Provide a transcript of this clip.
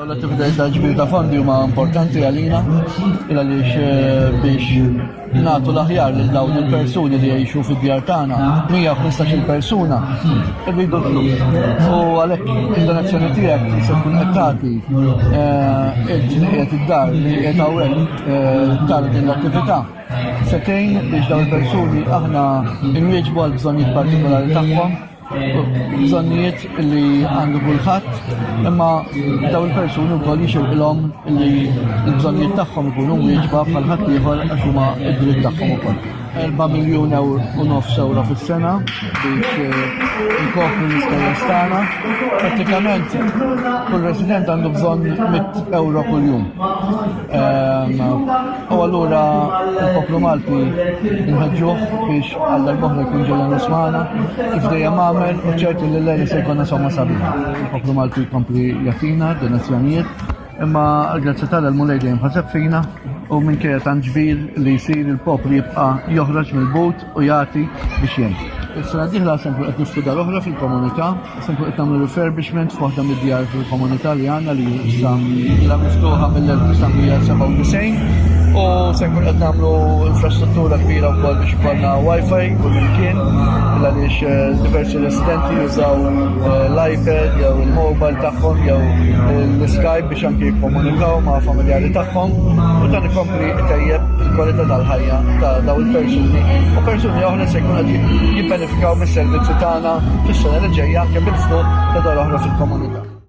Daw l-attivitajiet ta' ġbir ta' fondi huma importanti għalina għaliex eh, biex nagħtu l-aħjar lil dawn il-persuni li jgħixu fid-djar tagħna, 115-il persuna irridu l-flus. U għalhekk il-donazzjoni tiegħek se tkun qed tagħti eh, il-ġnijiet id-dar li qed hawnhekk eh, tal din l-attività. Setejn biex dawn il-persuni aħna nwieġbu għal bżonnijiet partikolari tagħhom bżonnijiet li għandu kulħadd, imma daw il-persuni wkoll jixilqilhom li l-bżonnijiet tagħhom ikunu wieġba bħal ħadd ieħor għax huma d-dritt tagħhom ukoll. 4 miljun ewro u nofs ewro fis-sena biex eh, nkopru l-ispejjeż tagħna. Prattikament kull resident għandu bżonn 100 ewro kuljum. U allura il-poplu Malti nħedġuħ biex għal darbohra jkun ġelan l-Osmana, kif dejjem għamel, u ċertu li l-lejn se jkun somma sabiħa. Il-poplu Malti jkompli jatina, donazzjonijiet, imma grazzi tal l-mulej dejjem ħaseb fina u minn kera tan ġbir li jisir il-poplu jibqa joħroġ mill-but u jagħti biex jgħin. Is-sena diħla se nkun qed niftu dar oħra fil-komunità, se nkun qed nagħmlu refurbishment f'waħda mid-djar fil-komunità li għandna li issa ilha miftuħa mill-1997 u se nkun qed nagħmlu infrastruttura kbira wkoll biex ikollna wifi u l-imkien għaliex eh, diversi residenti jużaw eh, l-iPad jew il-mobile tagħhom jew l-Skype biex anki jikkomunikaw ma' familjari tagħhom u dan ikompli tejjeb il-kwalità tal-ħajja ta' daw il-persuni u persuni oħra se jkun qed jibbenefikaw mis-servizzi tagħna fis-sena li ġejja anke bil-fuq ta' dar oħra fil-komunità.